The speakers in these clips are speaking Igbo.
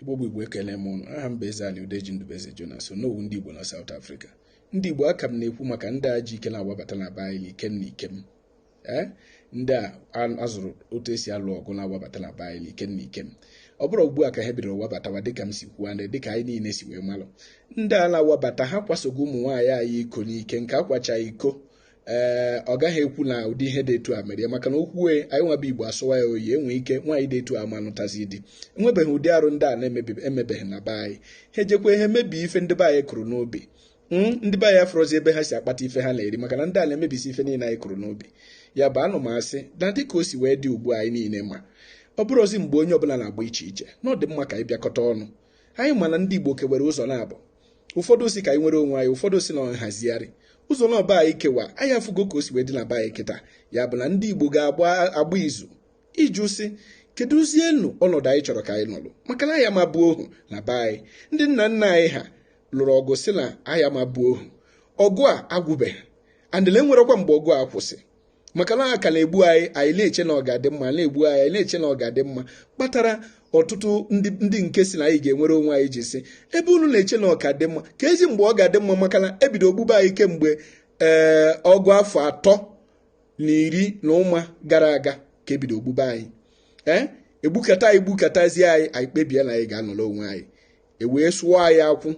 Igbo bụ Igbo ekele m ụnụ aha m bụ Eze Ali Udeji Ndubeze Jonas Onowu ndị Igbo na South Africa ndị Igbo a ka m na-ekwu maka ndị a ji ike na-awabata na be anyị ikem na ikem ee ndị a azụrụ otu e si alụ ọgụ na-awabata na be anyị ikem na ikem ọ bụrọ ugbu a ka ha bidoro wabatawa dịka m si kwuo ndị dịka anyị niile si wee malụ ndị a na-awabata ha kwasogo ụmụ nwaanyị anyị iko n'ike nke a kwacha iko ee ọ gaghị ekwu na ụdị ihe dị etu a mere ya maka na o kwue, anyị nwa bụ Igbo asọwa ya oyi e nwe ike nwaanyị dị etu a ama nụtazi di enwebeghị ụdị arụ ndị a na-emebeghị na be anyị ha ejekwa ihe mebie ife ndị be anyị kụrụ n'ubi hmm, ndị be anyị afụrọzi ebe ha si akpata ife ha na-eri maka na ndị a na-emebisi ife niile anyị kụrụ n'ubi ya bụ ana m asị na dịka o si wee dị ugbu a anyị niile ma ọ bụrọzi mgbe onye ọbụla na-agba iche iche na ọ dị mma ka anyị bịakọta ọnụ anyị ma na ndị Igbo kewere ụzọ naabọ ụfọdụ sị ka anyị nwere onwe anyị ụfọdụ sị na ọ nhazigharị ụzọ naabọ anyị kewa anyị afụgo ka o si wee dị na be anyị kịta ya bụ na ndị Igbo ga-agba izu ịjụ sị kedụzienụ ọnọdụ anyị chọrọ ka anyị nọlụ maka na anyị ama bụ ohu na be anyị ndị nna nna anyị ha lụrụ ọgụ sị na anyị ama bụ ohu ọgụ a agwụbeghị and e nwerọkwa mgbe ọgụ a kwụsị maka na a ka na-egbu anyị anyị na-eche na ọ ga-adị mma na-egbu anyị anyị na-eche na ọ ga-adị mma kpatara ọtụtụ ndị nke sị na anyị ga-enwere onwe anyị ji sị ebe unu na-eche na ọ ka dị mma keezi mgbe ọ ga-adị mma maka na e bido gbube anyị kemgbe ee eh, ọgụ afọ atọ na iri na ụma gara aga ka e bido gbube anyị ee eh, e gbukata anyị gbukatazie anyị anyị kpebie na anyị ga-anọrọ onwe anyị e wee sụọ anyị akwụ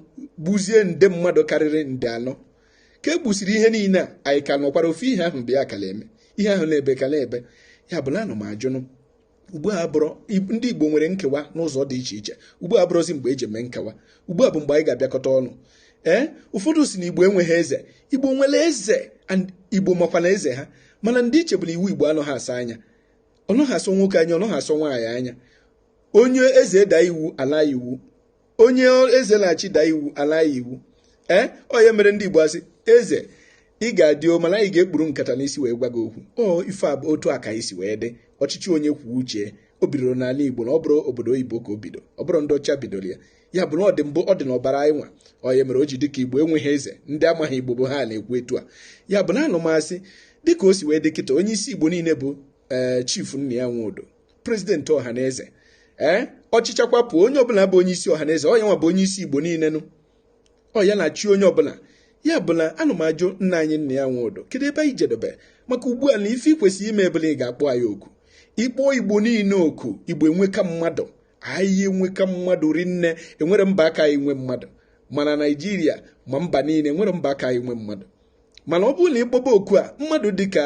gbuzie nde mmadụ karịrị nde anọ ka e gbusiri ihe niile a anyị ka nọkwara ofu ihe ahụ bụ ya ka na-eme ihe ahụ na-ebe ka na-ebe ya bụ na ana m ajụnụ ugbu a bụrụ ndị Igbo nwere nkewa n'ụzọ dị iche iche ugbu a abụrọzi mgbe e ji eme nkewa ugbu a bụ mgbe anyị ga-abịakọta ọnụ ee ụfọdụ sị na Igbo enweghị eze Igbo nwere eze Igbo makwa na eze ha mana ndị iche bụ na iwu Igbo anọghị asọ anya ọ nọghị asọ nwoke anya ọ nọghị asọ nwaanyị anya onye eze daa iwu ala iwu onye eze na-achị daa iwu ala iwu ee eh, ọ ya mere ndị Igbo asị eze ị ga-adị o mana anyị ga-ekpuru nkata n'isi wee gwa gị okwu ife a bụ otu a ka anyị si wee dị ọchịchị onye kwuo uche o bidoro n'ala Igbo na ọ bụrọ obodo oyibo ka o bido ọ bụrọ ndị ọcha bidoro ya ya bụ na ọ dị mbụ ọ dị n'ọbara anyị nwa ọ ya mere o ji dịka Igbo enweghị eze ndị amaghị Igbo bụ ha na-ekwu etu a ya bụ na ana m asị dịka o si wee dị kịta onye isi Igbo niile bụ ee eh, chifu Nnia Nwodo prezidenti ọhaneze ee eh, ọ chịcha kwapụ onye ọbụla bụ onye isi ọhaneze ọ ya nwa bụ onye isi igbo niile nụ ọ ya na-achị onye ọbụla ya bụ na ana m ajụ nna anyị Nnia Nwodo kedu ebe anyị jedebe maka ugbu a na ife i kwesịrị ime bụ na ị ga-akpọ anyị oku ị kpọọ igbo niile oku igbo enweka mmadụ anyị enweka mmadụ rinne e nwerọ mba ka anyị nwe mmadụ ma na naijiria ma mba niile e nwerọ mba ka anyị nwe mmadụ mana ọ bụrụ na ị kpọba oku a mmadụ dịka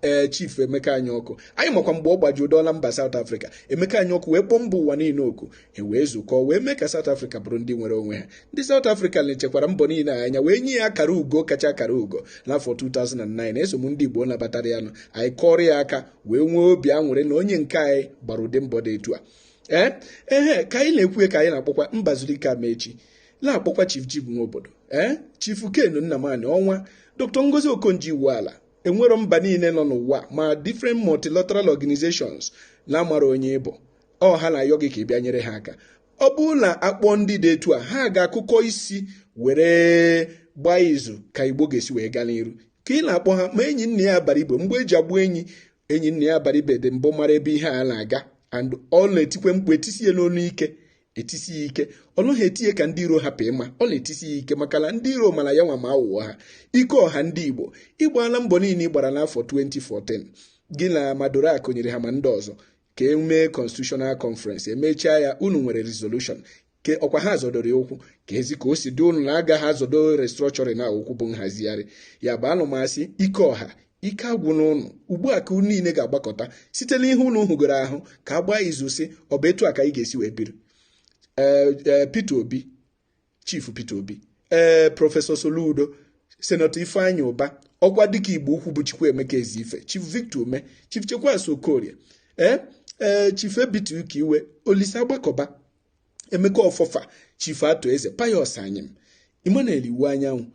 ee eh, chief Emeka Anyaọkụ anyị makwa mgbe ọ gbaju dọọla mba South Africa Emeka Anyaọkụ wee kpọọ mba ụwa niile oku e wee zukọ wee mee ka South Africa bụrụ ndị nwere onwe ha ndị South Africa na-echekwara mbọ niile anya wee nye ya akara ugo kacha akara ugo n'afọ 2009 eso m ndị Igbo nabatara ya nụ anyị kụọrọ ya aka wee nwee obi aṅụrị na onye nke anyị gbara ụdị mbọ dị etu a ee eh, ehe ka anyị na-ekwu ka anyị na-akpọkwa Mbazulike Amaechi na-akpọkwa Chief Jim Nwobodo ee eh? Chief Ken Nnamani ọnwa Dr. Ngozi Okonjo-Iweala enwero mba niile nọ n'ụwa ma different multilateral organizations na-amara onye ị bụ ọ ha na-ayọ gị ka ị bịa nyere ha aka ọ bụrụ na a kpọọ ndị dị etu a ha ga-akụkọ isi were gbaa izu ka igbo ga-esi wee gaa n'iru ka ị na-akpọ ha ma Enyinnaya Abaribe mgbọ e ji egbu enyi Enyinnaya Abaribe dị mbụ mara ebe ihe a na-aga and ọ na-etikwe mkpu etisi ya n'olu ike etisi ya ike ọ naghị eti ya ka ndị iro hapụ ịma ọ na-etisi ya ike maka na ndị iro mara ya nwa ma aghụghọ ha Ikeọha ndị Igbo ị gbaala mbọ niile ị gbara n'afọ 2014 gị na ma Dora Akunyili ha ma ndị ọzọ ka e mee constitutional conference emechaa ya unu nwere resolution ke ọkwa ha zọdoro ya ụkwụ keezi ka o si dị unu na a gaghị azọdo restructuring na ụkwụ bụ nhazigharị ya bụ ana m asị Ikeọha ike agwụna unu ugbu a ka unu niile ga-agbakọta site n'ihe unu hụgoro ahụ ka a gbaa izu sị ọ bụ etu a ka anyị ga-esi wee biri ee e, Peter Obi chifu Peter Obi ee prọfesọ Soludo senatọ Ifeanyi Ụba Okwadike Igbo-Ukwu bụ Chukwuemeka Ezeife chief Victor Ume chief Chekwas Okorie ee ee chief Ebitu Ukiwe Olisa Agbakọba Emeka Ọfọ fa chifu Arthur Eze Pius Anyịm Emmanuel Iwuanyanwụ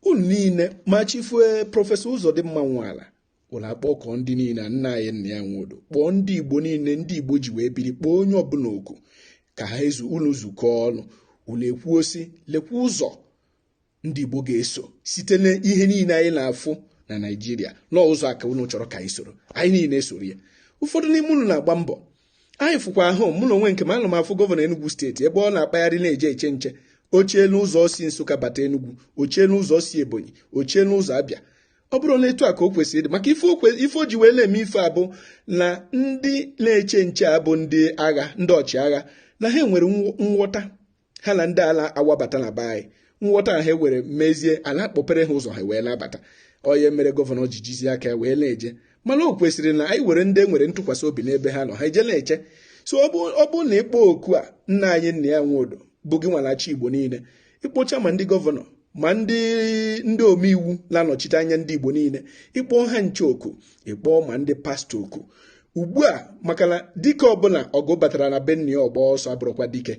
unu niile ma chifu eh, prọfesọ Ụzọdịmma Nwala unu akpọkọọ ndị niile nna anyị Nnia Nwodo kpọọ ndị igbo niile ndị igbo ji wee biri kpọọ onye ọbụla oku ka ha ezu unu zukọọ ọnụ unu ekwuo sị lekwa ụzọ ndị Igbo ga-eso site n'ihe niile anyị na-afụ na Naịjirịa na ọ ụzọ a ka unu chọrọ ka anyị soro anyị niile esoro ya ụfọdụ n'ime unu na-agba mbọ anyị fụkwa ahụ mụ na onwe nke m ana m afụ gọvanọ Enugu steeti ebe ọ na-akpagharị na-eje eche nche o chee n'ụzọ si Nsụka bata Enugu o chee n'ụzọ si Ebonyi o chee n'ụzọ Abịa ọ bụrọ etu a ka o kwesịrị ịdị maka ife o ji wee na-eme ife a bụ na ndị na-eche nche a bụ ndị agha ndị ọchịagha na ha nwere nghọta ha na ndị a na-awabata na be anyị nghọta ha nwere mezie a na-akpọpere ha ụzọ ha wee na-abata ọ ya mere gọvanọ ji jizie aka ya wee na-eje mana o kwesịrị na anyị were ndị e nwere ntụkwasị obi n'ebe ha nọ ha eje na-eche so ọ bụ na ị kpọọ oku a nna anyị Nnia Nwodo bụ gị nwa na-achị Igbo niile ị kpọchaa ma ndị gọvanọ ma ndị ndị omeiwu na-anọchite anya ndị igbo niile ị kpọọ ha ncha oku ị kpọọ ma ndị pastọ oku ugbu a maka na dike ọbụla ọgụ batara na be nna ya ọ gbaa ọsọ abụrọkwa dike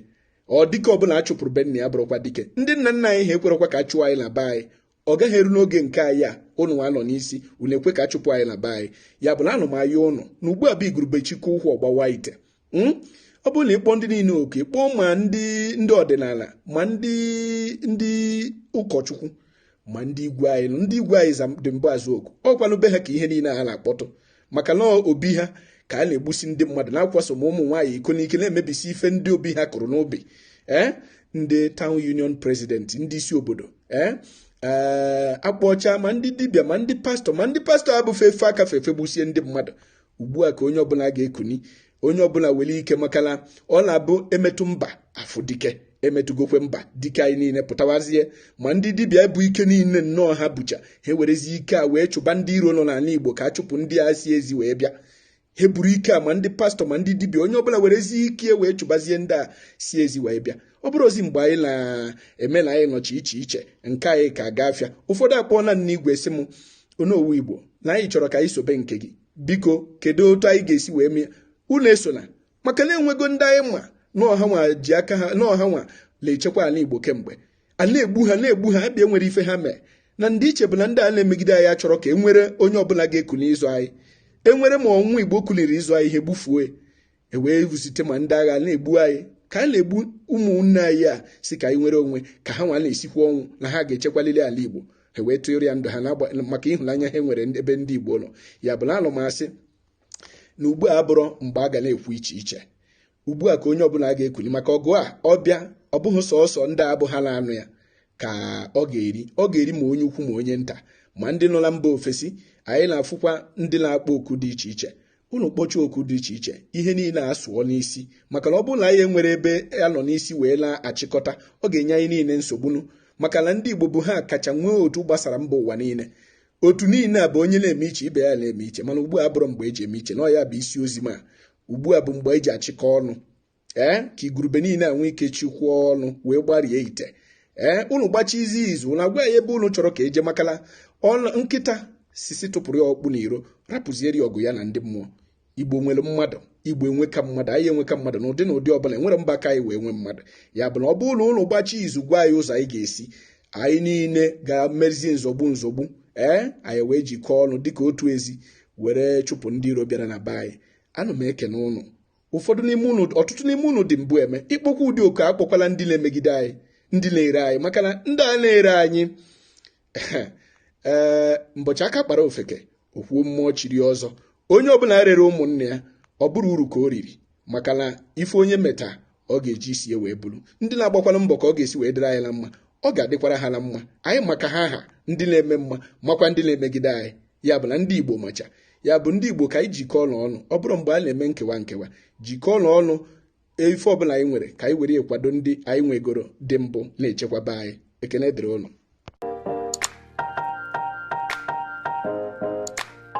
ọ dike ọbụla a chụpụrụ be nna ya abụrọkwa dike ndị nna nna anyị ha ekwerọkwa ka a chụọ anyị na be anyị ọ gaghị eru n'oge nke anyị a ụnụ nwa nọ n'isi unu ekwe ka a chụpụ anyị na be anyị ya bụ na ana m ayọ ụnụ na ugbu a bụ igurube chịkọọ ụkwụ ọ gbawaa ite hmm? ọ bụrụ na a kpọọ ndị niile oku kpọọ ma ndị ndị ọdịnala ma ndị ndị ụkọchukwu ma ndị igwe anyị ndị igwe anyị za dị mbụ aza oku ọ kwanụ be ha ka ihe niile a na-akpọtụ maka na ọ be ha ka a na-egbusi ndị mmadụ na-akwaso ma ụmụ nwaanyị iko n'ike na-emebisi ife ndị be ha kụrụ n'ubi ee eh? ndị town union president ndị isi obodo ee eh? eh, a kpọcha ma ndị dibịa ma ndị pastọ ma ndị pastọ abụfe efe aka fefe gbusie ndị mmadụ ugbu a ka onye ọbụla ga-ekuni onye ọbụla were ike makana ọ na-abụ emetụ mba a fụ dike emetụgokwa mba dike anyị niile pụtawazie ma ndị dibịa bu ike niile nnọọ ha bucha ha werezie ike a wee chụba ndị iro nọ n'ala Igbo ka a chụpụ ndị a si ezi wee bịa ha buru ike a ma ndị pastọ ma ndị dibịa onye ọbụla werezie ike wee chụbazie ndị a si ezi wee bịa ọ bụrọzi mgbe anyị na-eme na anyị nọcha iche iche nke anyị ka gaa afịa ụfọdụ akpọọla m n'igwe sị m onowu Igbo na anyị chọrọ ka anyị sobe nke gị biko kedu otu anyị ga-esi wee mee unu esona maka na enwego ndị anyị ma na ọ ha nwa ji aka ha na ọ ha nwa na-echekwa ala igbo kemgbe a na-egbu ha na-egbu ha a bịa enwerọ ife ha mee na ndị iche bụ na ndị a na-emegide anyị achọrọ ka e nwere onye ọbụla ga-ekuni ịzọ anyị e nwere ma ọ nwa igbo kuliri ịzọ anyị ha egbufuo e wee vụsite ma ndị agha na-egbu anyị ka a na-egbu ụmụnne anyị a sị ka anyị nwere onwe ka ha nwa na-esikwa ọnwụ na ha ga-echekwalili ala Igbo ha wee tụrụ ya ndụ ha maka ịhụnanya ha nwere ebe ndị Igbo nọ ya bụ na ana m asị na ugbu a abụrọ mgbe a ga na-ekwu iche iche ugbu a ka onye ọbụla ga-ekuli maka ọgụ a ọ bịa ọ bụghị sọsọ ndị a bụ ha na-anụ ya ka ọ ga-eri ọ ga-eri ma onye ukwu ma onye nta ma ndị nọ na mba ofesi anyị na-afụkwa ndị na-akpọ oku dị iche iche unu kpọchaa oku dị iche iche ihe niile asụọ n'isi maka na ọ bụrụ na anyị enwerọ ebe a nọ n'isi wee na-achịkọta ọ ga-enye anyị niile nsogbunu maka na ndị Igbo bụ ha kacha nwee otu gbasara mba ụwa niile otu niile a bụ onye na-eme iche ibe ya na-eme iche mana ugbu a abụrọ mgbe e ji eme iche na ọ ya bụ isi ozi m a ugbu a bụ mgbe e ji achịkọ ọnụ ee ka igurube niile enwe ike chikwuo ọnụ wee gbarie ite ee unu gbachazie izu unu agwa anyị ebe unu chọrọ ka e je makala ọnụ nkịta sị sị tụpụrụ ya ọkpụ n'iro rapụziere ya ọgụ ya na ndị mmụọ igbo nwere mmadụ igbo enweka mmadụ anyị enweka mmadụ n'ụdị n'ụdị ọbụla enwerọ mba ka anyị wee nwee mmadụ ya bụ na ọ bụrụ na unu gbachaa izu gwa anyị ụzọ anyị ga-esi anyị niile ga-emezi nzọgbu nzọgbu ee anyị wee jikọọ ọnụ dịka otu ezi were chụpụ ndị iro bịara na be anyị ana m ekene ụnụ ụfọdụ n'ime unu ọtụtụ n'ime unu dị mbụ eme ịkpọkwa ụdị oku akpọkwala ndị na-emegide anyị ndị na-ere anyị maka na ndị a na-ere anyị ee eh, mbọchị aka kpara ofeke o kwuo mmụọ chiri ọzọ onye ọbụla rere ụmụnne ya ọ bụrụ uru ka o riri maka na ife onye meta ọ ga-eji isi ya wee buru ndị na-agbakwala mbọ ka ọ ga-esi wee dịrị anyị na mma ọ ga-adịkwara ha na mma anyị ma ka ha ha ndị na-eme mma makwa ndị na-emegide anyị ya bụ na ndị Igbo macha ya bụ ndị Igbo ka anyị jikọọ ọnụ ọnụ ọ bụrọ mgbe a na-eme nkewa nkewa jikọọ ọnụ ọnụ ife ọbụla anyị nwere ka anyị were kwado ndị anyị nwegoro dị mbụ na-echekwaba anyị ekene dịrị ụnụ